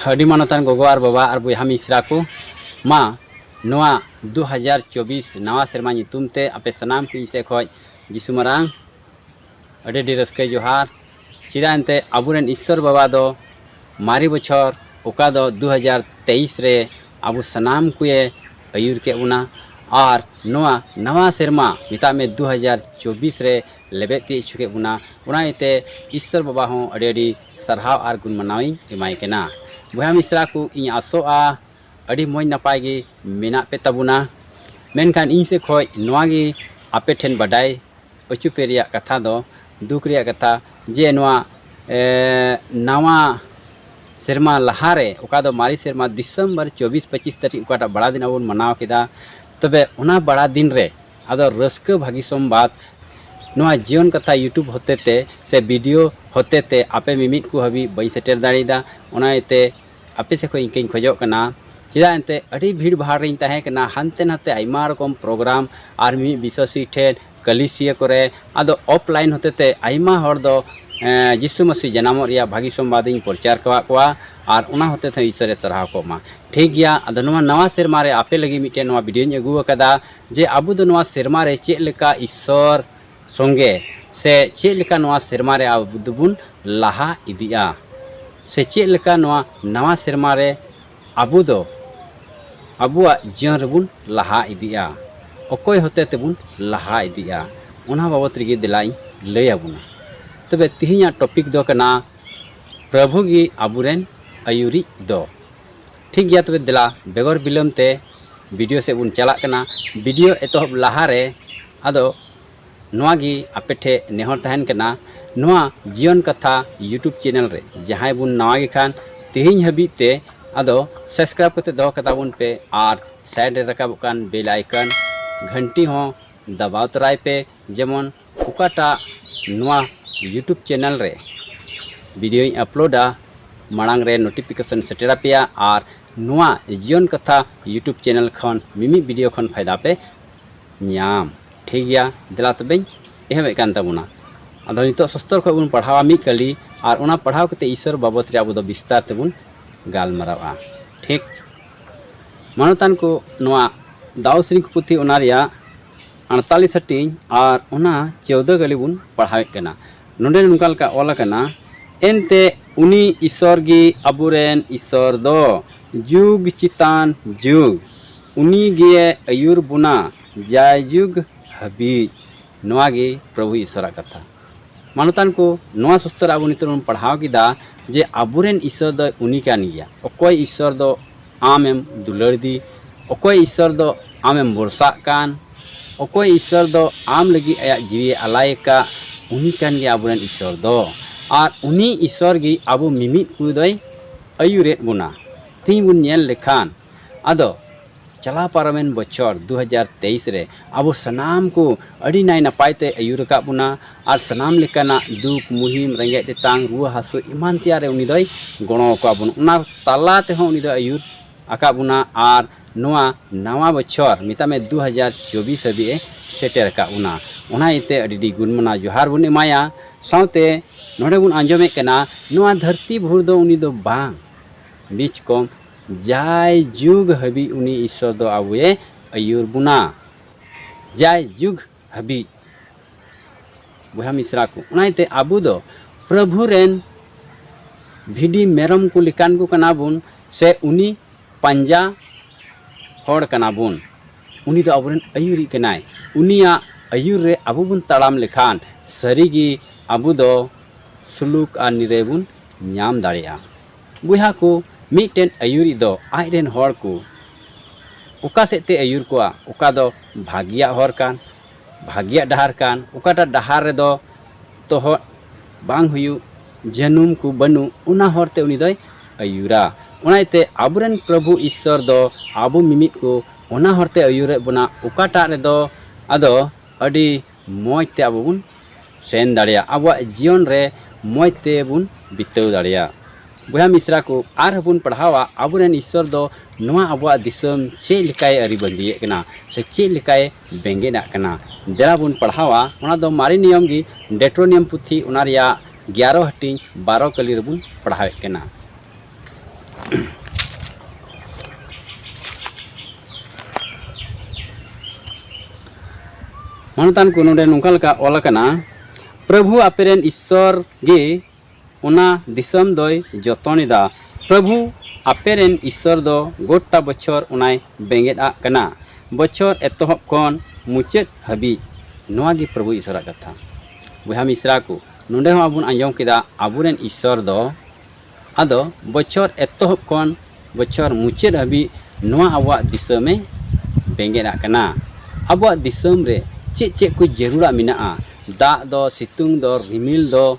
ᱟᱹᱰᱤ ᱢᱟᱱᱚᱛᱟᱱ ᱜᱚᱜᱚ ᱟᱨ ᱵᱟᱵᱟ ᱟᱨ ᱵᱚᱭᱦᱟ ᱢᱤᱥᱨᱟ ᱠᱚ ᱢᱟ ᱱᱚᱣᱟ ᱫᱩ ᱦᱟᱡᱟᱨ ᱪᱚᱵᱵᱤᱥ ᱱᱟᱣᱟ ᱥᱮᱨᱢᱟ ᱧᱩᱛᱩᱢ ᱛᱮ ᱟᱯᱮ ᱥᱟᱱᱟᱢ ᱠᱚ ᱤᱧ ᱥᱮᱫ ᱠᱷᱚᱱ ᱡᱤᱥᱩ ᱢᱟᱨᱟᱝ ᱟᱹᱰᱤ ᱟᱹᱰᱤ ᱨᱟᱹᱥᱠᱟᱹ ᱡᱚᱦᱟᱨ ᱪᱮᱫᱟᱜ ᱮᱱᱛᱮ ᱟᱵᱚᱨᱮᱱ ᱤᱥᱥᱚᱨ ᱵᱟᱵᱟ ᱫᱚ ᱢᱟᱨᱮ ᱵᱚᱪᱷᱚᱨ ᱚᱠᱟ ᱫᱚ ᱫᱩ ᱦᱟᱡᱟᱨ ᱛᱮᱭᱤᱥ ᱨᱮ ᱟᱵᱚ ᱥᱟᱱᱟᱢ ᱠᱚᱭᱮ ᱟᱹᱭᱩᱨ ᱠᱮᱫ ᱵᱚᱱᱟ ᱟᱨ ᱱᱚᱣᱟ ᱱᱟᱣᱟ ᱥᱮᱨᱢᱟ ᱢᱮᱛᱟᱜ ᱢᱮ ᱫᱩ ᱦᱟᱡᱟᱨ ᱪᱚᱵᱵᱤᱥ ᱨᱮ ᱞᱮᱵᱮᱫ ᱛᱤᱭᱳᱜ ᱦᱚᱪᱚ ᱠᱮᱫ ᱵᱚᱱᱟ ᱚᱱᱟ ᱤᱭᱟᱹᱛᱮ ᱤᱥᱥᱚᱨ ᱵᱟᱵᱟ ᱦᱚᱸ ᱟᱹᱰᱤ ᱟᱹᱰᱤ ᱥᱟᱨᱦᱟᱣ ᱟᱨ ᱜᱩᱱ ᱢᱟᱱᱟᱣ ᱤᱧ ᱮᱢᱟᱭ ᱠᱟᱱᱟ ᱵᱚᱭᱦᱟ ᱢᱤᱥᱨᱟ ᱠᱚ ᱤᱧ ᱟᱥᱚᱜᱼᱟ ᱟᱹᱰᱤ ᱢᱚᱡᱽ ᱱᱟᱯᱟᱭ ᱜᱮ ᱢᱮᱱᱟᱜ ᱯᱮ ᱛᱟᱵᱚᱱᱟ ᱢᱮᱱᱠᱷᱟᱱ ᱤᱧ ᱥᱮᱫ ᱠᱷᱚᱱ ᱱᱚᱣᱟ ᱜᱮ ᱟᱯᱮ ᱴᱷᱮᱱ ᱵᱟᱰᱟᱭ ᱚᱪᱚ ᱯᱮ ᱨᱮᱭᱟᱜ ᱠᱟᱛᱷᱟ ᱫᱚ ᱫᱩᱠ ᱨᱮᱭᱟᱜ ᱠᱟᱛᱷᱟ ᱡᱮ ᱱᱚᱣᱟ ᱱᱟᱣᱟ ᱥᱮᱨᱢᱟ ᱞᱟᱦᱟ ᱨᱮ ᱚᱠᱟ ᱫᱚ ᱢᱟᱨᱮ ᱥᱮᱨᱢᱟ ᱰᱤᱥᱮᱢᱵᱚᱨ ᱪᱚᱵᱽᱵᱤᱥ ᱯᱚᱸᱪᱤᱥ ᱛᱟᱹᱨᱤᱠᱷ ᱚᱠᱟᱴᱟᱜ ᱵᱟᱲᱟ ᱫᱤᱱ ᱟᱵᱚ ᱵᱚᱱ ᱢᱟᱱᱟᱣ ᱠᱮᱫᱟ ᱛᱚᱵᱮ ᱚᱱᱟ ᱵᱟᱲᱟ ᱫᱤᱱ ᱨᱮ ᱟᱫᱚ ᱨᱟᱹᱥᱠᱟᱹ ᱵᱷᱟᱹᱜᱤ ᱥᱚᱢᱵᱟᱫᱽ ᱱᱚᱣᱟ ᱡᱤᱭᱚᱱ ᱠᱟᱛᱷᱟ ᱭᱩᱴᱩᱵᱽ ᱦᱚᱛᱮᱛᱮ ᱥᱮ ᱵᱷᱤᱰᱤᱭᱳ ᱦᱚᱛᱮᱛᱮ ᱟᱯᱮ ᱢᱤᱢᱤᱫ ᱠᱚ ᱦᱟᱹᱵᱤᱡ ᱵᱟᱹᱧ ᱥᱮᱴᱮᱨ ᱫᱟᱲᱮᱭᱟᱫᱟ ᱚᱱᱟ ᱤᱭᱟᱹᱛᱮ ᱟᱯᱮ ᱥᱮᱫ ᱠᱷᱚᱱ ᱤᱠᱟᱹᱧ ᱠᱷᱚᱡᱚᱜ ᱠᱟᱱᱟ ᱪᱮᱫᱟᱜ ᱮᱱᱛᱮᱫ ᱟᱹᱰᱤ ᱵᱷᱤᱲ ᱵᱷᱟᱲ ᱨᱤᱧ ᱛᱟᱦᱮᱸ ᱠᱟᱱᱟ ᱦᱟᱱᱛᱮ ᱱᱟᱛᱮ ᱟᱭᱢᱟ ᱨᱚᱠᱚᱢ ᱯᱨᱳᱜᱽᱨᱟᱢ ᱟᱨ ᱢᱤᱢᱤᱫ ᱵᱤᱥᱥᱟᱹᱥᱤ ᱴᱷᱮᱱ ᱠᱟᱹᱞᱤᱥᱤᱭᱟᱹ ᱠᱚᱨᱮ ᱟᱫᱚ ᱚᱯᱷ ᱞᱟᱭᱤᱱ ᱦᱚᱛᱮᱛᱮ ᱟᱭᱢᱟ ᱦᱚᱲ ᱫᱚ ᱡᱤᱥᱩ ᱢᱟᱹᱥᱤ ᱡᱟᱱᱟᱢᱚᱜ ᱨᱮᱭᱟᱜ ᱵᱷᱟᱹᱜᱤ ᱥᱚᱢᱵᱟᱫᱽ ᱤᱧ ᱯᱨᱚᱪᱟᱨ ᱟᱠᱟᱫ ᱠᱚᱣᱟ ᱟᱨ ᱚᱱᱟ ᱦᱚᱛᱮᱛᱮ ᱤᱥᱥᱚᱨᱮ ᱥᱟᱨᱦᱟᱣ ᱠᱚᱜ ᱢᱟ ᱴᱷᱤᱠ ᱜᱮᱭᱟ ᱟᱫᱚ ᱱᱚᱣᱟ ᱱᱟᱣᱟ ᱥᱮᱨᱢᱟ ᱨᱮ ᱟᱯᱮ ᱞᱟᱹᱜᱤᱫ ᱢᱤᱫᱴᱮᱱ ᱱᱚᱣᱟ ᱵᱷᱤᱰᱤᱭᱳᱧ ᱟᱹᱜᱩ ᱟᱠᱟᱫᱟ ᱡᱮ ᱟᱵᱚ ᱫᱚ ᱱᱚᱣᱟ ᱥᱮᱨᱢᱟ ᱨᱮ ᱪᱮᱫ ᱞᱮᱠᱟ ᱤᱥᱥᱚᱨ ᱥᱚᱸᱜᱮ ᱥᱮ ᱪᱮᱫ ᱞᱮᱠᱟ ᱱᱚᱣᱟ ᱥᱮᱨᱢᱟ ᱨᱮ ᱟᱵᱚ ᱫᱚᱵᱚᱱ ᱞᱟᱦᱟ ᱤᱫᱤᱜᱼᱟ ᱥᱮ ᱪᱮᱫ ᱞᱮᱠᱟ ᱱᱚᱣᱟ ᱱᱟᱣᱟ ᱥᱮᱨᱢᱟ ᱨᱮ ᱟᱵᱚ ᱫᱚ ᱟᱵᱚᱣᱟᱜ ᱡᱤᱭᱚᱱ ᱨᱮᱵᱚᱱ ᱞᱟᱦᱟ ᱤᱫᱤᱜᱼᱟ ᱚᱠᱚᱭ ᱦᱚᱛᱮ ᱛᱮᱵᱚᱱ ᱞᱟᱦᱟ ᱤᱫᱤᱜᱼᱟ ᱚᱱᱟ ᱵᱟᱵᱚᱛ ᱨᱮᱜᱮ ᱫᱮᱞᱟᱧ ᱞᱟᱹᱭ ᱟᱵᱚᱱᱟ ᱛᱚᱵᱮ ᱛᱮᱦᱮᱧᱟᱜ ᱴᱚᱯᱤᱠ ᱫᱚ ᱠᱟᱱᱟ ᱯᱨᱚᱵᱷᱩ ᱜᱮ ᱟᱵᱚᱨᱮᱱ ᱟᱹᱭᱩᱨᱤᱡ ᱫᱚ ᱴᱷᱤᱠ ᱜᱮᱭᱟ ᱛᱚᱵᱮ ᱫᱮᱞᱟ ᱵᱮᱜᱚᱨ ᱵᱤᱞᱚᱢ ᱛᱮ ᱵᱷᱤᱰᱤᱭᱳ ᱥᱮᱫ ᱵᱚᱱ ᱪᱟᱞᱟᱜ ᱠᱟᱱᱟ ᱵᱷᱤᱰᱤᱭᱳ ᱮᱛᱚᱦᱚᱵ ᱞᱟᱦᱟ ᱨᱮ ᱟᱫᱚ ᱱᱚᱣᱟ ᱜᱮ ᱟᱯᱮ ᱴᱷᱮᱡ ᱱᱮᱦᱚᱨ ᱛᱟᱦᱮᱱ ᱠᱟᱱᱟ ᱱᱚᱣᱟ ᱡᱤᱭᱚᱱ ᱠᱟᱛᱷᱟ ᱤᱭᱩᱴᱩᱵᱽ ᱪᱮᱱᱮᱞ ᱨᱮ ᱡᱟᱦᱟᱸᱭ ᱵᱚᱱ ᱱᱟᱣᱟ ᱜᱮ ᱠᱷᱟᱱ ᱛᱮᱦᱮᱧ ᱦᱟᱹᱵᱤᱡ ᱛᱮ ᱟᱫᱚ ᱥᱟᱵᱥᱠᱨᱟᱭᱤᱵᱽ ᱠᱟᱛᱮ ᱫᱚᱦᱚ ᱠᱟᱛᱟ ᱵᱚᱱ ᱯᱮ ᱟᱨ ᱥᱟᱭᱤᱰ ᱨᱮ ᱨᱟᱠᱟᱵᱚᱜ ᱠᱟᱱ ᱵᱮᱞ ᱟᱭᱠᱚᱱ ᱜᱷᱟᱱᱴᱤ ᱦᱚᱸ ᱫᱟᱵᱟᱣ ᱛᱚᱨᱟᱭ ᱯᱮ ᱡᱮᱢᱚᱱ ᱚᱠᱟᱴᱟᱜ ᱱᱚᱣᱟ ᱤᱭᱩᱴᱩᱵᱽ ᱪᱮᱱᱮᱞ ᱨᱮ ᱵᱷᱤᱰᱤᱭᱳᱧ ᱟᱯᱞᱳᱰᱟ ᱢᱟᱲᱟᱝ ᱨᱮ ᱱᱳᱴᱤᱯᱷᱤᱠᱮᱥᱚᱱ ᱥᱮᱴᱮᱨ ᱟᱯᱮᱭᱟ ᱟᱨ ᱱᱚᱣᱟ ᱡᱤᱭᱚᱱ ᱠᱟᱛᱷᱟ ᱤᱭᱩᱴᱩᱵᱽ ᱪᱮᱱᱮᱞ ᱠᱷᱚᱱ ᱢᱤᱢᱤᱫ ᱵᱷᱤᱰᱤᱭᱳ ᱠᱷᱚᱱ ᱯᱷᱟᱭᱫᱟ ᱯᱮ ᱧᱟᱢ ᱴᱷᱤᱠ ᱜᱮᱭᱟ ᱫᱮᱞᱟ ᱛᱚᱵᱮᱧ ᱮᱦᱚᱵᱮᱫ ᱠᱟᱱ ᱛᱟᱵᱚᱱᱟ ᱟᱫᱚ ᱱᱤᱛᱚᱜ ᱥᱚᱥᱛᱚᱨ ᱠᱷᱚᱱ ᱵᱚᱱ ᱯᱟᱲᱦᱟᱣᱟ ᱢᱤᱫ ᱠᱟᱹᱞᱤ ᱟᱨ ᱚᱱᱟ ᱯᱟᱲᱦᱟᱣ ᱠᱟᱛᱮ ᱤᱥᱚᱨ ᱵᱟᱵᱚᱛ ᱨᱮ ᱟᱵᱚ ᱫᱚ ᱵᱤᱥᱛᱟᱨ ᱛᱮᱵᱚᱱ ᱜᱟᱞᱢᱟᱨᱟᱣᱟ ᱴᱷᱤᱠ ᱢᱟᱱᱚᱛᱟᱱ ᱠᱚ ᱱᱚᱣᱟ ᱫᱟᱣ ᱥᱨᱤᱝᱠ ᱯᱩᱛᱷᱤ ᱚᱱᱟ ᱨᱮᱭᱟᱜ ᱟᱴᱛᱟᱞᱤᱥ ᱦᱟᱹᱴᱤᱧ ᱟᱨ ᱚᱱᱟ ᱪᱳᱣᱫᱚ ᱜᱟᱹᱞᱤ ᱵᱚᱱ ᱯᱟᱲᱦᱟᱣᱮᱫ ᱠᱟᱱᱟ ᱱᱚᱰᱮ ᱱᱚᱝᱠᱟ ᱞᱮᱠᱟ ᱚᱞ ᱟᱠᱟᱱᱟ ᱮᱱᱛᱮ ᱩᱱᱤ ᱤᱥᱚᱨ ᱜᱮ ᱟᱵᱚᱨᱮᱱ ᱤᱥᱚᱨ ᱫᱚ ᱡᱩᱜᱽ ᱪᱮᱛᱟᱱ ᱡᱩᱜᱽ ᱩᱱᱤ ᱜᱮ ᱟᱹᱭᱩᱨ ᱵᱚᱱᱟ ᱡᱟᱭ ᱡᱩᱜᱽ ᱦᱟᱹᱵᱤᱡ ᱱᱚᱣᱟ ᱜᱮ ᱯᱨᱚᱵᱷᱩ ᱤᱥᱚᱨᱟᱜ ᱠᱟᱛᱷᱟ ᱢᱟᱱᱚᱛᱟᱱ ᱠᱚ ᱱᱚᱣᱟ ᱥᱩᱥᱛᱚᱨ ᱟᱵᱚ ᱱᱤᱛᱚᱜ ᱵᱚᱱ ᱯᱟᱲᱦᱟᱣ ᱠᱮᱫᱟ ᱡᱮ ᱟᱵᱚᱨᱮᱱ ᱤᱥᱚᱨ ᱫᱚ ᱩᱱᱤ ᱠᱟᱱ ᱜᱮᱭᱟ ᱚᱠᱚᱭ ᱤᱥᱚᱨ ᱫᱚ ᱟᱢᱮᱢ ᱫᱩᱞᱟᱹᱲ ᱫᱤ ᱚᱠᱚᱭ ᱤᱥᱥᱚᱨ ᱫᱚ ᱟᱢᱮᱢ ᱵᱚᱨᱥᱟᱜ ᱠᱟᱱ ᱚᱠᱚᱭ ᱤᱥᱥᱚᱨ ᱫᱚ ᱟᱢ ᱞᱟᱹᱜᱤᱫ ᱟᱭᱟᱜ ᱡᱤᱣᱤᱭᱮ ᱟᱞᱟᱭ ᱟᱠᱟᱫ ᱩᱱᱤ ᱠᱟᱱ ᱜᱮᱭᱟᱭ ᱟᱵᱚᱨᱮᱱ ᱤᱥᱥᱚᱨ ᱫᱚ ᱟᱨ ᱩᱱᱤ ᱤᱥᱥᱚᱨ ᱜᱮ ᱟᱵᱚ ᱢᱤᱢᱤᱫ ᱠᱚ ᱫᱚᱭ ᱟᱹᱭᱩᱨᱮᱫ ᱵᱚᱱᱟ ᱛᱮᱦᱮᱧ ᱵᱚᱱ ᱧᱮᱞ ᱞᱮᱠᱷᱟᱱ ᱟᱫᱚ ᱪᱟᱞᱟᱣ ᱯᱟᱨᱚᱢᱮᱱ ᱵᱚᱪᱷᱚᱨ ᱫᱩ ᱦᱟᱡᱟᱨ ᱛᱮᱭᱤᱥ ᱨᱮ ᱟᱵᱚ ᱥᱟᱱᱟᱢ ᱠᱚ ᱟᱹᱰᱤ ᱱᱟᱭ ᱱᱟᱯᱟᱭ ᱛᱮ ᱟᱹᱭᱩᱨ ᱟᱠᱟᱫ ᱵᱚᱱᱟ ᱟᱨ ᱥᱟᱱᱟᱢ ᱞᱮᱠᱟᱱᱟᱜ ᱫᱩᱠ ᱢᱩᱦᱤᱢ ᱨᱮᱸᱜᱮᱡ ᱛᱮᱛᱟᱝ ᱨᱩᱣᱟᱹ ᱦᱟᱹᱥᱩ ᱮᱢᱟᱱ ᱛᱮᱭᱟᱜ ᱨᱮ ᱩᱱᱤ ᱫᱚᱭ ᱜᱚᱲᱚ ᱟᱠᱟᱫ ᱵᱚᱱᱟ ᱚᱱᱟ ᱛᱟᱞᱟ ᱛᱮᱦᱚᱸ ᱩᱱᱤ ᱫᱚᱭ ᱟᱹᱭᱩᱨ ᱟᱠᱟᱫ ᱵᱚᱱᱟ ᱟᱨ ᱱᱚᱣᱟ ᱱᱟᱣᱟ ᱵᱚᱪᱷᱚᱨ ᱢᱮᱛᱟᱜ ᱢᱮ ᱫᱩ ᱦᱟᱡᱟᱨ ᱪᱚᱵᱵᱤᱥ ᱦᱟᱹᱵᱤᱡ ᱮ ᱥᱮᱴᱮᱨ ᱟᱠᱟᱫ ᱵᱚᱱᱟ ᱚᱱᱟ ᱤᱭᱟᱹᱛᱮ ᱟᱹᱰᱤ ᱟᱹᱰᱤ ᱜᱩᱱ ᱢᱟᱱᱟᱣ ᱡᱚᱦᱟᱨ ᱵᱚᱱ ᱮᱢᱟᱭᱟ ᱥᱟᱶᱛᱮ ᱱᱚᱰᱮ ᱵᱚᱱ ᱟᱸᱡᱚᱢᱮᱫ ᱠᱟᱱᱟ ᱱᱚᱣᱟ ᱫᱷᱟᱹᱨᱛᱤ ᱵᱷᱩᱨ ᱫᱚ ᱩᱱᱤ ᱫᱚ ᱵᱟᱝ ᱵᱤᱪ ᱠᱚᱢ ᱡᱟᱭ ᱡᱩᱜᱽ ᱦᱟᱹᱵᱤᱡ ᱩᱱᱤ ᱤᱥᱥᱚᱨ ᱫᱚ ᱟᱵᱚᱭᱮ ᱟᱹᱭᱩᱨ ᱵᱚᱱᱟ ᱡᱟᱭ ᱡᱩᱜᱽ ᱦᱟᱹᱵᱤᱡ ᱵᱚᱭᱦᱟ ᱢᱤᱥᱨᱟ ᱠᱚ ᱚᱱᱟᱛᱮ ᱟᱵᱚ ᱫᱚ ᱯᱨᱚᱵᱷᱩ ᱨᱮᱱ ᱵᱷᱤᱰᱤ ᱢᱮᱨᱚᱢ ᱠᱚ ᱞᱮᱠᱟᱱ ᱠᱚ ᱠᱟᱱᱟ ᱵᱚᱱ ᱥᱮ ᱩᱱᱤ ᱯᱟᱸᱡᱟ ᱦᱚᱲ ᱠᱟᱱᱟ ᱵᱚᱱ ᱩᱱᱤ ᱫᱚ ᱟᱵᱚᱨᱮᱱ ᱟᱹᱭᱩᱨᱤᱡ ᱠᱟᱱᱟᱭ ᱩᱱᱤᱭᱟᱜ ᱟᱹᱭᱩᱨ ᱨᱮ ᱟᱵᱚ ᱵᱚᱱ ᱛᱟᱲᱟᱢ ᱞᱮᱠᱷᱟᱱ ᱥᱟᱹᱨᱤᱜᱮ ᱟᱵᱚ ᱫᱚ ᱥᱩᱞᱩᱠ ᱟᱨ ᱱᱤᱨᱟᱹᱭ ᱵᱚᱱ ᱧᱟᱢ ᱫᱟᱲᱮᱭᱟᱜᱼᱟ ᱵᱚᱭᱦᱟ ᱠᱚ, ᱢᱤᱫᱴᱮᱱ ᱟᱹᱭᱩᱨᱤᱡ ᱫᱚ ᱟᱡ ᱨᱮᱱ ᱦᱚᱲ ᱠᱚ ᱚᱠᱟ ᱥᱮᱫ ᱛᱮᱭ ᱟᱹᱭᱩᱨ ᱠᱚᱣᱟ? ᱚᱠᱟ ᱫᱚ ᱵᱷᱟᱹᱜᱤᱭᱟᱜ ᱦᱚᱨ ᱠᱟᱱ, ᱵᱷᱟᱹᱜᱤᱭᱟᱜ ᱰᱟᱦᱟᱨ ᱠᱟᱱ, ᱚᱠᱟᱴᱟᱜ ᱰᱟᱦᱟᱨ ᱨᱮᱫᱚ ᱛᱚᱦᱚᱫ ᱵᱟᱝ ᱦᱩᱭᱩᱜ, ᱡᱟᱹᱱᱩᱢ ᱠᱚ ᱵᱟᱹᱱᱩᱜ, ᱚᱱᱟ ᱦᱚᱨ ᱛᱮ ᱩᱱᱤ ᱫᱚᱭ ᱟᱹᱭᱩᱨᱟ᱾ ᱚᱱᱟ ᱤᱭᱟᱹᱛᱮ ᱟᱵᱚ ᱨᱮᱱ ᱯᱨᱚᱵᱷᱩ ᱤᱥᱥᱚᱨ ᱫᱚ ᱟᱵᱚ ᱢᱤᱢᱤᱫ ᱠᱚ ᱚᱱᱟ ᱦᱚᱨ ᱛᱮᱭ ᱟᱹᱭᱩᱨᱮᱫ ᱵᱚᱱᱟ ᱚᱠᱟᱴᱟᱜ ᱨᱮᱫᱚ ᱟᱫᱚ ᱟᱹᱰᱤ ᱢᱚᱡᱽ ᱛᱮ ᱟᱵᱚ ᱵᱚᱱ ᱥᱮᱱ ᱫᱟᱲᱮᱭᱟᱜ ᱟᱵᱚᱣᱟᱜ ᱡᱤᱭᱚᱱ ᱨᱮ ᱢᱚᱡᱽ ᱛᱮ ᱵᱚᱱ ᱵᱤᱛᱟᱹᱣ ᱫᱟᱲᱮᱭᱟᱜ ᱵᱚᱭᱦᱟ ᱢᱤᱥᱨᱟ ᱠᱚ ᱟᱨ ᱦᱚᱸ ᱵᱚᱱ ᱯᱟᱲᱦᱟᱣᱟ ᱟᱵᱚ ᱨᱮᱱ ᱤᱥᱥᱚᱨ ᱫᱚ ᱱᱚᱣᱟ ᱟᱵᱚᱣᱟᱜ ᱫᱤᱥᱚᱢ ᱪᱮᱫ ᱞᱮᱠᱟᱭ ᱟᱹᱨᱤ ᱵᱟᱺᱫᱤᱭᱮᱫ ᱠᱟᱱᱟ ᱥᱮ ᱪᱮᱫ ᱞᱮᱠᱟᱭ ᱵᱮᱸᱜᱮᱫ ᱟᱜ ᱠᱟᱱᱟ ᱫᱮᱞᱟ ᱵᱚᱱ ᱯᱟᱲᱦᱟᱣᱟ ᱚᱱᱟ ᱫᱚ ᱢᱟᱨᱮ ᱱᱤᱭᱚᱢ ᱜᱮ ᱰᱮᱴᱨᱳᱱᱤᱭᱚᱢ ᱯᱩᱛᱷᱤ ᱚᱱᱟ ᱨᱮᱭᱟᱜ ᱜᱮᱭᱟᱨᱚ ᱦᱟᱹᱴᱤᱧ ᱵᱟᱨᱚ ᱠᱟᱹᱞᱤ ᱨᱮᱵᱚᱱ ᱯᱟᱲᱦᱟᱣᱮᱫ ᱠᱟᱱᱟ ᱢᱟᱱᱚᱛᱟᱱ ᱠᱚ ᱱᱚᱰᱮ ᱱᱚᱝᱠᱟ ᱞᱮᱠᱟ ᱚᱞ ᱟᱠᱟᱱᱟ ᱯᱨᱚᱵᱷᱩ ᱟᱯᱮᱨᱮᱱ ᱤᱥᱥᱚᱨ ᱜᱮ ᱚᱱᱟ ᱫᱤᱥᱚᱢ ᱫᱚᱭ ᱡᱚᱛᱚᱱᱮᱫᱟ ᱯᱨᱚᱵᱷᱩ ᱟᱯᱮᱨᱮᱱ ᱤᱥᱥᱚᱨ ᱫᱚ ᱜᱚᱴᱟ ᱵᱚᱪᱷᱚᱨ ᱚᱱᱟᱭ ᱵᱮᱸᱜᱮᱫ ᱟᱜ ᱠᱟᱱᱟ ᱵᱚᱪᱷᱚᱨ ᱮᱛᱚᱦᱚᱵ ᱠᱷᱚᱱ ᱢᱩᱪᱟᱹᱫ ᱦᱟᱹᱵᱤᱡ ᱱᱚᱣᱟ ᱜᱮ ᱯᱨᱚᱵᱷᱩ ᱤᱥᱥᱚᱨᱟᱜ ᱠᱟᱛᱷᱟ ᱵᱚᱭᱦᱟ ᱢᱤᱥᱨᱟ ᱠᱚ ᱱᱚᱰᱮ ᱦᱚᱸ ᱟᱵᱚ ᱟᱸᱡᱚᱢ ᱠᱮᱫᱟ ᱟᱵᱚᱨᱮᱱ ᱤᱥᱥᱚᱨ ᱫᱚ ᱟᱫᱚ ᱵᱚᱪᱷᱚᱨ ᱮᱛᱚᱦᱚᱵ ᱠᱷᱚᱱ ᱵᱚᱪᱷᱚᱨ ᱢᱩᱪᱟᱹᱫ ᱦᱟᱹᱵᱤᱡ ᱱᱚᱣᱟ ᱟᱵᱚᱣᱟᱜ ᱫᱤᱥᱚᱢ ᱮ ᱵᱮᱸᱜᱮᱫ ᱟᱜ ᱠᱟᱱᱟ᱾ ᱟᱵᱚᱣᱟᱜ ᱫᱤᱥᱚᱢ ᱨᱮ ᱪᱮᱫ ᱪᱮᱫ ᱠᱚ ᱡᱟᱹᱨᱩᱲᱟᱜ ᱢᱮᱱᱟᱜᱼᱟ? ᱫᱟᱜ ᱫᱚ, ᱥᱤᱛᱩᱝ ᱫᱚ, ᱨᱤᱢᱤᱞ ᱫᱚ,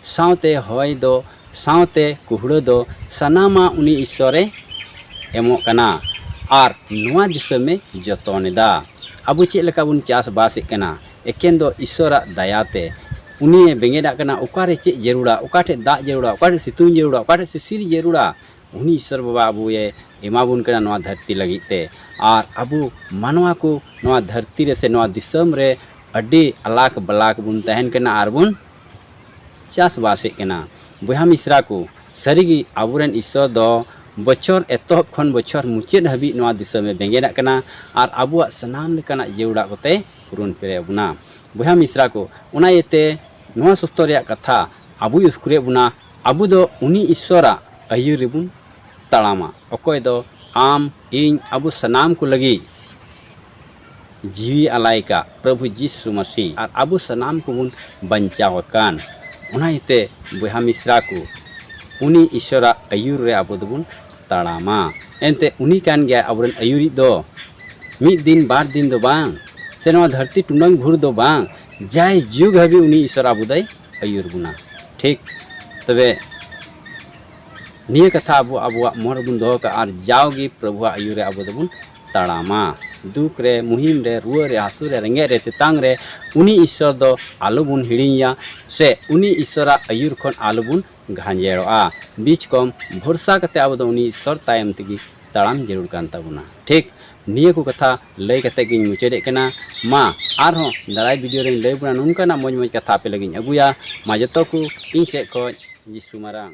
ᱥᱟᱶᱛᱮ ᱦᱚᱭ ᱫᱚ, ᱥᱟᱶᱛᱮ ᱠᱩᱦᱲᱟᱹ ᱫᱚ ᱥᱟᱱᱟᱢᱟᱜ ᱩᱱᱤ ᱤᱥᱥᱚᱨ ᱮ ᱮᱢᱚᱜ ᱠᱟᱱᱟ ᱟᱨ ᱱᱚᱣᱟ ᱫᱤᱥᱚᱢ ᱮ ᱡᱚᱛᱚᱱ ᱮᱫᱟ᱾ ᱟᱵᱚ ᱪᱮᱫ ᱞᱮᱠᱟ ᱵᱚᱱ ᱪᱟᱥ ᱵᱟᱥ ᱮᱫ ᱠᱟᱱᱟ, ᱮᱠᱮᱱ ᱫᱚ ᱤᱥᱚᱨᱟᱜ ᱫᱟᱭᱟᱛᱮ ᱩᱱᱤᱭᱮ ᱵᱮᱸᱜᱮᱫᱟᱜ ᱠᱟᱱᱟ ᱚᱠᱟᱨᱮ ᱪᱮᱫ ᱡᱟᱹᱨᱩᱲᱟ ᱚᱠᱟᱴᱷᱮᱡ ᱫᱟᱜ ᱡᱟᱹᱨᱩᱲᱟ ᱚᱠᱟᱴᱷᱮᱡ ᱥᱤᱛᱩᱝ ᱡᱟᱹᱨᱩᱲᱟ ᱚᱠᱟᱴᱷᱮᱡ ᱥᱤᱥᱤᱨ ᱡᱟᱹᱨᱩᱲᱟ ᱩᱱᱤ ᱤᱥᱚᱨ ᱵᱟᱵᱟ ᱟᱵᱚᱭᱮ ᱮᱢᱟᱵᱚᱱ ᱠᱟᱱᱟ ᱱᱚᱣᱟ ᱫᱷᱟᱹᱨᱛᱤ ᱞᱟᱹᱜᱤᱫ ᱛᱮ ᱟᱨ ᱟᱵᱚ ᱢᱟᱱᱣᱟ ᱠᱚ ᱱᱚᱣᱟ ᱫᱷᱟᱹᱨᱛᱤ ᱨᱮ ᱥᱮ ᱱᱚᱣᱟ ᱫᱤᱥᱚᱢ ᱨᱮ ᱟᱹᱰᱤ ᱟᱞᱟᱠ ᱵᱟᱞᱟᱠ ᱵᱚᱱ ᱛᱟᱦᱮᱱ ᱠᱟᱱᱟ ᱟᱨ ᱵᱚᱱ ᱪᱟᱥᱵᱟᱥᱮᱫ ᱠᱟᱱᱟ ᱵᱚᱭᱦᱟ ᱢᱤᱥᱨᱟ ᱠᱚ ᱥᱟᱹᱨᱤᱜᱮ ᱟᱵᱚᱨᱮᱱ ᱤᱥᱚᱨ ᱫᱚ ᱵᱚᱪᱷᱚᱨ ᱮᱛᱚᱦᱚᱵ ᱠᱷᱚᱱ ᱵᱚᱪᱷᱚᱨ ᱢᱩᱪᱟᱹᱫ ᱦᱟᱹᱵᱤᱡ ᱱᱚᱣᱟ ᱫᱤᱥᱚᱢᱮ ᱵᱮᱸᱜᱮᱫᱟᱜ ᱠᱟᱱᱟ ᱟᱨ ᱟᱵᱚᱣᱟᱜ ᱥᱟᱱᱟᱢ ᱞᱮᱠᱟᱱᱟᱜ ᱡᱟᱹᱨᱩᱲᱟᱜ ᱠᱚᱛᱮᱭ ᱯᱩᱨᱩᱱ ᱯᱮᱨᱮ ᱟᱵᱚᱱᱟ ᱵᱚᱭᱦᱟ ᱢᱤᱥᱨᱟ ᱠᱚ ᱚᱱᱟ ᱤᱭᱟᱹᱛᱮ ᱱᱚᱣᱟ ᱥᱚᱥᱛᱚ ᱨᱮᱭᱟᱜ ᱠᱟᱛᱷᱟ ᱟᱵᱚᱭ ᱩᱥᱠᱩᱨᱮᱫ ᱵᱚᱱᱟ ᱟᱵᱚ ᱫᱚ ᱩᱱᱤ ᱤᱥᱥᱚᱨᱟᱜ ᱟᱹᱭᱩᱨ ᱨᱮᱵᱚᱱ ᱛᱟᱲᱟᱢᱟ ᱚᱠᱚᱭ ᱫᱚ ᱟᱢ ᱤᱧ ᱟᱵᱚ ᱥᱟᱱᱟᱢ ᱠᱚ ᱞᱟᱹᱜᱤᱫ ᱡᱤᱣᱤ ᱟᱞᱟᱭ ᱠᱟᱜ ᱯᱨᱚᱵᱷᱩ ᱡᱤᱥᱩ ᱢᱟᱹᱥᱤ ᱟᱨ ᱟᱵᱚ ᱥᱟᱱᱟᱢ ᱠᱚᱵᱚᱱ ᱵᱟᱧᱪᱟᱣ ᱟᱠᱟᱱ ᱚᱱᱟ ᱤᱭᱟᱹᱛᱮ ᱵᱚᱭᱦᱟ ᱢᱤᱥᱨᱟ ᱠᱚ ᱩᱱᱤ ᱤᱥᱥᱚᱨᱟᱜ ᱟᱹᱭᱩᱨ ᱨᱮ ᱟᱵᱚ ᱫᱚᱵᱚᱱ ᱛᱟᱲᱟᱢᱟ ᱮᱱᱛᱮ ᱩᱱᱤ ᱠᱟᱱ ᱜᱮᱭᱟ ᱟᱵᱚᱨᱮᱱ ᱟᱹᱭᱩᱨᱤᱡ ᱫᱚ ᱢᱤᱫ ᱫᱤᱱ ᱵᱟᱨ ᱫᱤᱱ ᱫᱚ ᱵᱟᱝ ᱥᱮ ᱱᱚᱣᱟ ᱫᱷᱟᱹᱨᱛᱤ ᱴᱩᱱᱟᱹᱝ ᱵᱷᱩᱨ ᱫᱚ ᱵᱟᱝ ᱡᱟᱭ ᱡᱩᱜᱽ ᱦᱟᱹᱵᱤᱡ ᱩᱱᱤ ᱤᱥᱚᱨ ᱟᱵᱚ ᱫᱚᱭ ᱟᱹᱭᱩᱨ ᱵᱚᱱᱟ ᱴᱷᱤᱠ ᱛᱚᱵᱮ ᱱᱤᱭᱟᱹ ᱠᱟᱛᱷᱟ ᱟᱵᱚ ᱟᱵᱚᱣᱟᱜ ᱢᱚᱱ ᱨᱮᱵᱚᱱ ᱫᱚᱦᱚ ᱠᱟᱜᱼᱟ ᱟᱨ ᱡᱟᱣᱜᱮ ᱯᱨᱚᱵᱷᱩᱣᱟᱜ ᱟᱹᱭᱩᱨ ᱨᱮ ᱟᱵᱚ ᱫᱚᱵᱚᱱ ᱛᱟᱲᱟᱢᱟ ᱫᱩᱠ ᱨᱮ ᱢᱩᱦᱤᱢ ᱨᱮ ᱨᱩᱣᱟᱹ ᱨᱮ ᱦᱟᱹᱥᱩ ᱨᱮ ᱨᱮᱸᱜᱮᱡ ᱨᱮ ᱛᱮᱛᱟᱝ ᱨᱮ ᱩᱱᱤ ᱤᱥᱚᱨ ᱫᱚ ᱟᱞᱚᱵᱚᱱ ᱦᱤᱲᱤᱧᱟ ᱥᱮ ᱩᱱᱤ ᱤᱥᱚᱨᱟᱜ ᱟᱹᱭᱩᱨ ᱠᱷᱚᱱ ᱟᱞᱚᱵᱚᱱ ᱜᱷᱟᱸᱡᱮᱲᱚᱜᱼᱟ ᱵᱤᱪ ᱠᱚᱢ ᱵᱷᱚᱨᱥᱟ ᱠᱟᱛᱮ ᱟᱵᱚ ᱫᱚ ᱩᱱᱤ ᱤᱥᱥᱚᱨ ᱛᱟᱭᱚᱢ ᱛᱮᱜᱮ ᱛᱟᱲᱟᱢ ᱡᱟᱹᱨᱩᱲ ᱠᱟᱱ ᱛᱟᱵᱚᱱᱟ ᱴᱷᱤᱠ ᱱᱤᱭᱟᱹ ᱠᱚ ᱠᱟᱛᱷᱟ ᱞᱟᱹᱭ ᱠᱟᱛᱮ ᱜᱤᱧ ᱢᱩᱪᱟᱹᱫᱮᱫ ᱠᱟᱱᱟ ᱢᱟ ᱟᱨᱦᱚᱸ ᱫᱟᱨᱟᱭ ᱵᱷᱤᱰᱤᱭᱳ ᱨᱮᱧ ᱞᱟᱹᱭ ᱵᱚᱱᱟ ᱱᱚᱝᱠᱟᱱᱟᱜ ᱢᱚᱡᱽ ᱢᱚᱡᱽ ᱠᱟᱛᱷᱟ ᱟᱯᱮ ᱞᱟᱹᱜᱤᱫ ᱟᱹᱜᱩᱭᱟ ᱢᱟ ᱡᱚᱛᱚ ᱠᱚ ᱤᱧ ᱥᱮᱫ ᱠᱷᱚᱡ ᱡᱤᱥᱩ ᱢᱟᱨᱟᱝ